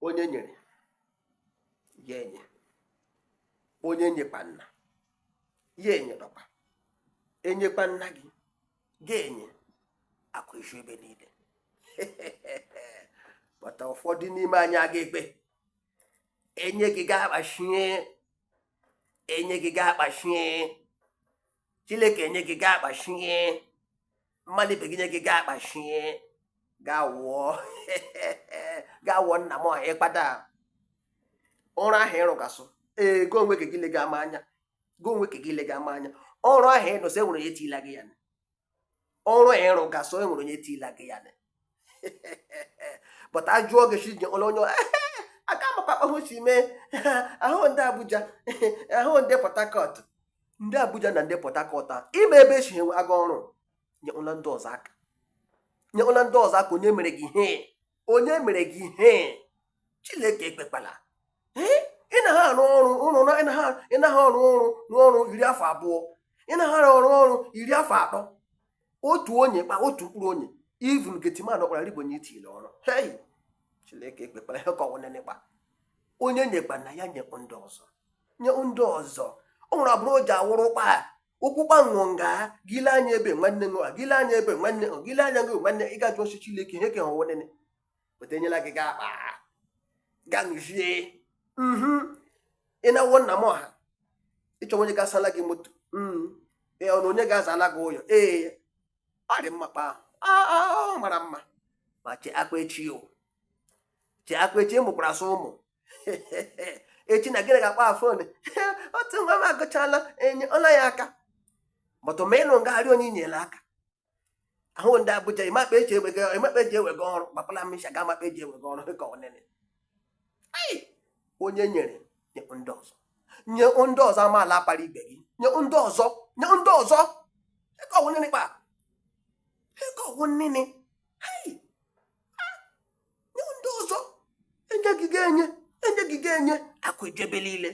onye nyere ya enye onye nyekpana ya enye dọkwa enyekpana gị ga-enye akụ isu ebe niile but ụfọdụ n'ime anyị aga ekpe enye gị ga-akpachie enye gị ga-akpachie chineke nye gị gaa akpachie mmadụ ibe gị nye gị gaa akpachie gaa wụọ gaa wụọ nna m ọha ịkpata ọrụ ahụ ị rụgasị ee go onwe ka gị lega ama anya go onwe ka gị lega ama anya ọrụ ahụ ịnụsị enwere ya etila gị ya ọrụ ị rụgasị o nwere onye tila gị ya but a jụọ gị si onye onye aka makwa ahụ si mee ahụ ndị Abuja ahụ ndị Port Harcourt ndị Abuja na ndị Port Harcourt a ị ma ebe esi ewega ọrụ nyela ndị ọzọ aka nyela ndị ọzọ aka onye mere gị ihe onye mere gị ihe chineke ekpekpala ị na ha arụ ọrụ ụrụ na ị na ha ọrụ ọrụ n'ọrụ iri afọ abụọ ị na ha arụ ọrụ ọrụ iri afọ atọ otu onye kpa otu mkpụrụ onye even gateman ọkpara ribonye i tile ọrụ hei chineke ekpekpala ihe ka ọwụ nene kpa onye nyekpana ya nye ndị ọzọ nye ndị ọzọ ọ nwere abụrụ o ji awụrụ ụkpa ụkwụkpa ṅụọ nga gile anya ebe nwanne ṅụọ gile anya ebe nwanne ṅụọ gile anya ṅụọ nwanne ị ga-ajụ ọchị Chineke ihe ka ọwụ nene but enyela gị ga akpa ga ṅụzie mhm ị na-awọ nna m ọha ị chọ onye ga-asala gị moto mhm ee ọ na onye ga-azala gị ụyọ ee ọ dị mma kpa ahụ Ah, ah, ọ mara mma ma chee akwa echi o chee akwa echi ị mụkwarasị ụmụ echi na gịnị ga-akpa fon otu nwa m agụchala enyela ya aka but ma ịnụ ngagharị onye inyere aka ahụ ndị Abuja ị ma kpa eji ewega ị ma kpa eji ewega ọrụ gbapala misha ga amakpa eji ewega ọrụ dịka ọwụ nene onye nyere nye ndị ọzọ nye ndị ọzọ amaala akpara ibe gị nye ndị ọzọ nye ndị ọzọ dịka ọwụ nene kpa dịka ọwụ nene nye ndị ọzọ enye gị ga-enye enye gị ga-enye akụ eje ebe niile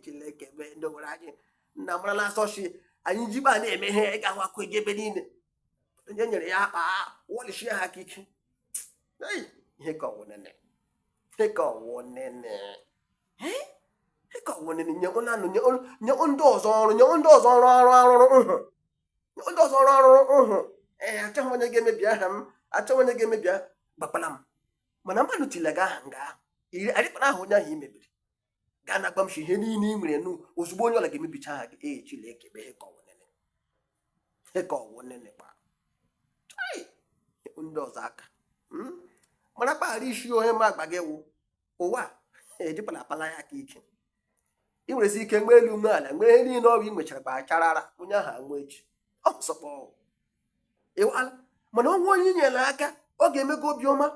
chineke mee ndị nwere anyị nna mara na asọchi anyị jibe a na-eme ihe ị ga-ahụ akụ eje ebe niile onye nyere ya akpa wọlichie ha aka ike ihe ka ọwụ nene ihe ka ọwụ nene ihe ka ọwụ nene nye onye anụ nye ndị ọzọ ọrụ nye ndị ọzọ ọrụ ọrụ arụrụ ndị ọzọ rụọ ọrụ ahụ ee achọghị onye ga-emebi aha m achọghị onye ga-emebi aha gbakwala m mana mmadụ tile gị aha nga ahụ iri arịkpara aha onye ahụ i mebiri gaa na agbamsi ihe niile ị nwere nu ozugbo onye ọla ga-emebicha aha gị ee Chineke bụ ihe ka ọwụ nene ihe ka ọwụ nene kpa Chai! ndị ọzọ aka Mm? mara kpa ha rị isi ihe m agba gị wụ ụwa ejikwala apala ya aka ike ị nwerezi ike nwee elu ume ala nwee ihe niile ọ wụ ị nwechara kpacharara onye ahụ anwụ echi ọ sọkpọ ịwala mana ọ wụ onye i nyere aka ọ ga-emekwa obiọma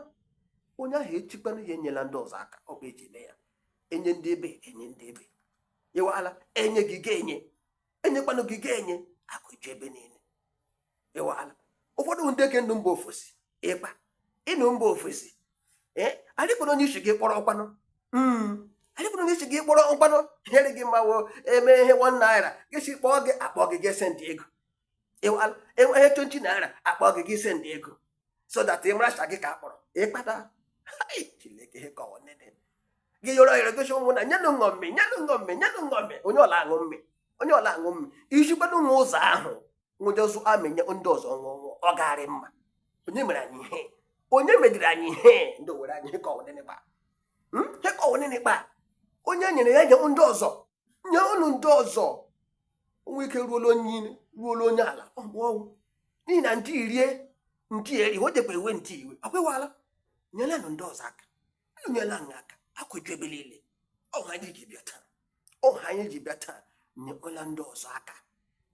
onye ahụ ejikwanụ ihe enyela ndị ọzọ aka ọ kpa eji eme ya enye ndị ebe enye ndị ebe ịwala enye gị gị enye enyekwanụ gị gị enye akụ eju ebe niile ịwala ụfọdụ ndị ke nọ mba ofesi ịkpa ị nọ mba ofesi ee anyị kpọrọ onye isi gị kpọrọ ọkwanụ hmm. anyị kpọrọ onye isi gị kpọrọ ọkwanụ nyere gị mmanwụ eme ihe one naira gị si kpọọ gị akpọ gị gị sendị ego ịwala enweghị twenty naira akpọ gị gị sendị ego so that ị maracha gị ka akpọrọ ịkpata Chineke ihe ka ọwụ nene gị yọrọ yọrọ gosi ụmụ na nyenụ ṅụọ mme nyenụ ṅụọ mme nyenụ ṅụọ mme onye ọla aṅụ mme onye ọla aṅụ mme ijikwanụ nwa ụzọ ahụ ṅụjuo zụa mme nye ndị ọzọ ṅụọ ọ gaarị mma onye mere anyị ihe onye mediri anyị ihe ndị Owere anyị ihe ka ọwụ nene kpa hmm? ihe ka ọwụ nene kpa onye nyere ya nye ndị ọzọ nye unu ndị ọzọ o nwee ike ruola onye elu ruola onye ala ọgwụ ọnwụ n'ihi na ndị irie ndị eri o jekwa ewe ndị iwe akwụwala nyelanụ ndị ọzọ aka unu nyela anyị aka akụ eju ebe niile ọ ihe anyị ji bịa taa ọ ihe anyị ji bịa taa nyekwala ndị ọzọ aka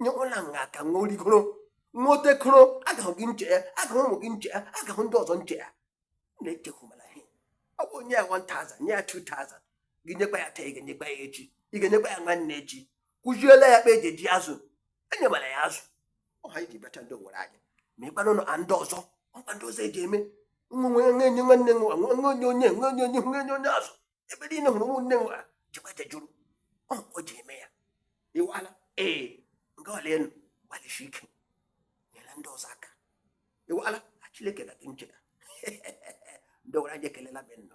nyekwala anyị aka nwa origoro nwa otekoro agahụ gị nche ya agahụ ụmụ gị nche ya agahụ ndị ọzọ nche ya na-echekwumala ihe ọ bụ i nye ya 1000 nye ya 2000 gị nyekwa ya taa ị ga-enyekwa ya echi ị ga-enyekwa ya nwanne echi kụziela ya kpa eji eji azụ enyemala ya azụ ọ ihe anyị ji bịacha ndị Owere anyị ma ịkpara ụlọ ndị ọzọ ọ kpa ndị ọzọ eji eme nwe nwe nwe enye nwanne nwe nwe nwe onye onye nwe onye onye nwe onye onye azụ ebe niile hụrụ ụmụnne nwe ha chekwa jejuru ọ o ji eme ya ịwala ee nga ọla elu gbalịsi ike nyere ndị ọzọ aka ịwala a Chineke ga gị nchega ndị Owere anyị ekelela be nna